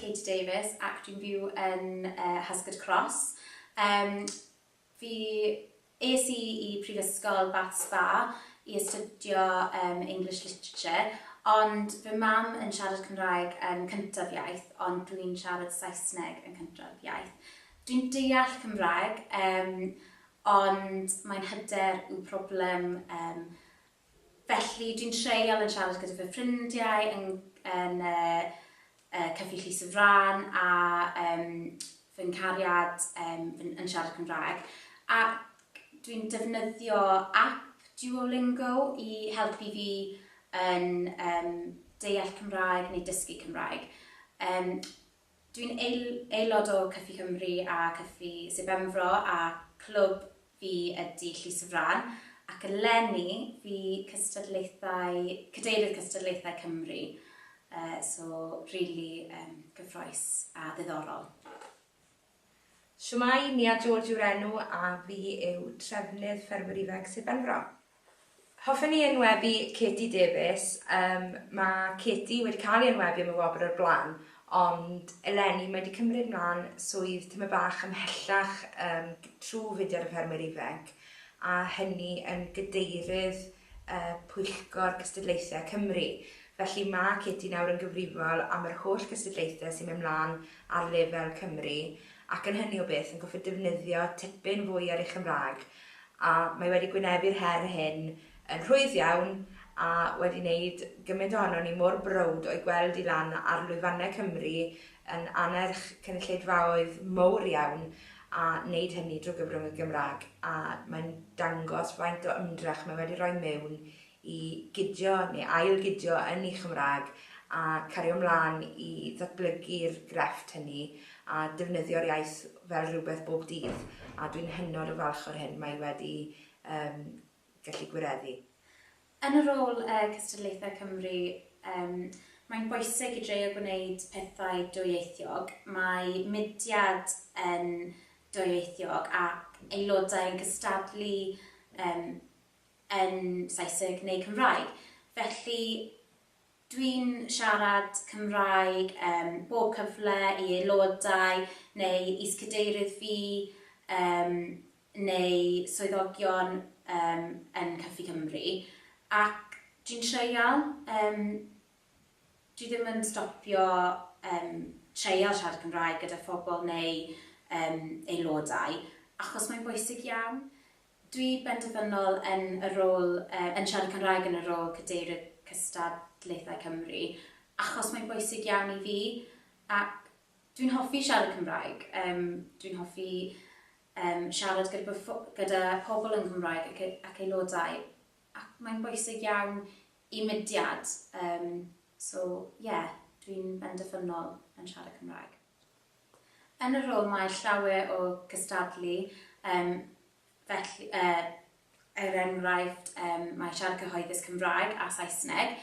Katie Davies ac dwi'n byw yn uh, Husgard Cross. Um, fi es i i Prifysgol Bath Spa i astudio um, English Literature, ond fy mam yn siarad Cymraeg yn cyntaf iaith, ond dwi'n siarad Saesneg yn cyntaf iaith. Dwi'n deall Cymraeg, um, ond mae'n hyder yw problem um, Felly, dwi'n treial yn siarad gyda fy ffrindiau yn yn y y Cyffi Llys y Frân a yym fy nghariad yym yn yn siarad Cymraeg, ac dwi'n defnyddio ap Duolingo i helpu fi yn yym deall Cymraeg neu dysgu Cymraeg. Yym. Dwi'n aelod o Cyffi Cymru a Cyffi Sir Benfro a clwb fi ydi Llys y Frân ac eleni fi cystadlaethau, cadeirydd cystadlaethau Cymru, so rili gyffroes a ddiddorol. Shwmae, Nia George yw'r enw a fi yw trefnydd Ffermwyr Ifanc Sir Benfro. Hoffen i enwebu Katie Davies, yym mae Katie wedi cael ei enwebu am y wobr o'r blaen ond eleni mae 'di cymryd mlan swydd tymed bach ymhellach yym trwy fudiad y Ffermwyr Ifanc a hynny yn Gadeirydd y Pwyllgor Cystadlaethau Cymru. Felly mae Katie nawr yn gyfrifol am yr holl gystadlaethau sy'n mynd mlaen ar lefel Cymru ac yn hynny o beth yn gorfod defnyddio tipyn fwy ar ei Chymraeg a mae wedi gwynebu'r her hyn yn rhwydd iawn a wedi wneud gymaint ohonon ni mor browd o'i gweld hi lan ar lwyfannau Cymru yn annerch cynulleidfaoedd mowr iawn a wneud hynny drwy gyfrwng y Gymraeg, a mae'n dangos faint o ymdrech mae wedi rhoi mewn i gydio neu ail-gydio yn ei Chymraeg a cario mlaen i ddatblygu'r grefft hynny a defnyddio'r iaith fel rhywbeth bob dydd a dwi'n hynod o falch o'r hyn mae wedi um, gallu gwireddu. Yn y rôl Cystadlaethau Cymru, mae'n bwysig i dreio gwneud pethau dwyieithiog. Mae mudiad yn dwyieithiog ac aelodau yn cystadlu yn Saesneg neu Cymraeg. Felly, Dwi'n siarad Cymraeg ym mhob cyfle i aelodau neu is-cadeirydd fi yym neu swyddogion yym yn Cyffi Cymru ac dwi'n treial yym dwi ddim yn stopio yym treial siarad Cymraeg gyda phobl neu yym aelodau achos mae'n bwysig iawn. Dwi benderfynol yn y rôl, yn siarad Cymraeg yn y rôl Cadeirydd Cystadlaethau Cymru, achos mae'n bwysig iawn i fi, ac dwi'n hoffi siarad Cymraeg, dwi'n hoffi siarad gyda pobl yn Gymraeg ac aelodau, ac mae'n bwysig iawn i mudiad, so ie, dwi'n benderfynol yn siarad Cymraeg. Yn y rhwng mae llawer o gystadlu, yym, felly, yy, er enghraifft, yym, mae siarad cyhoeddus Cymraeg a Saesneg.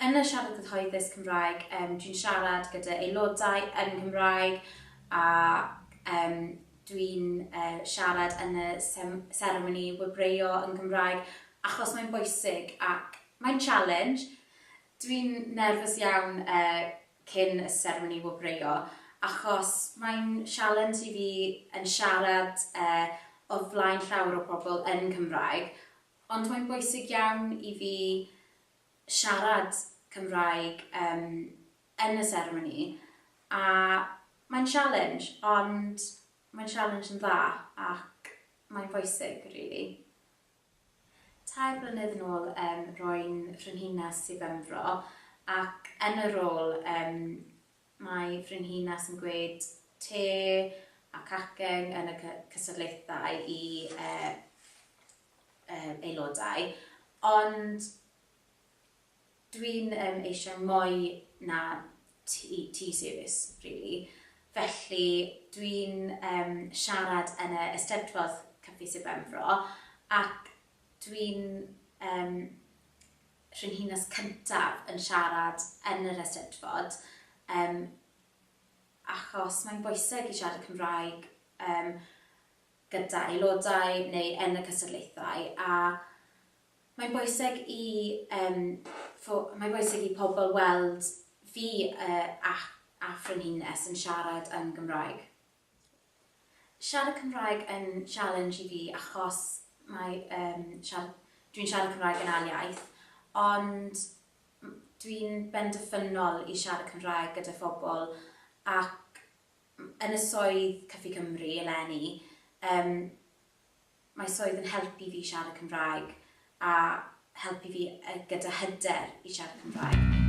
Yn y siarad cyhoeddus Cymraeg, yym, dwi'n siarad gyda aelodau yn Nghymraeg ac, yym, dwi'n, yy, siarad yn y sem- seremoni wobrwyo yn Gymraeg achos mae'n bwysig ac mae'n challenge. Dwi'n nerfus iawn, yy, cyn y seremoni wobrwyo achos mae'n sialens i fi yn siarad e o flaen llawer o pobl yn Cymraeg ond mae'n bwysig iawn i fi siarad Cymraeg yym yn y seremoni a mae'n sialens ond mae'n sialens yn dda ac mae'n bwysig rili. Tair blynedd yn ôl yym ro'n frenhines i Benfro ac yn y rôl yym mae frenhines yn gwneud te a cacen yn y cy- cystadlaethau i yy yy aelodau ond Dwi'n yym eisiau mwy na tea tea service rili, felly dwi'n yym siarad yn y Eisteddfod Caffi Sir Benfro ac dwi'n yym Frenhines cyntaf yn siarad yn yr Eisteddfod yym achos mae'n bwyseg i siarad Cymraeg yym gyda aelodau neu yn y cystadlaethau a Mae'n bwysig i yym fo- mae'n bwysig i pobl weld fi y a a frenhines yn siarad yn Gymraeg. Siarad Cymraeg yn sialens i fi achos mae yym siar- dwi'n siarad Cymraeg yn ail iaith ond m- dwi'n benderfynol i siarad Cymraeg gyda phobl ac m- yn y swydd Cyfi Cymru eleni yym Mae swydd yn helpu fi i siarad Cymraeg a helpu fi gyda hyder i siarad Cymraeg.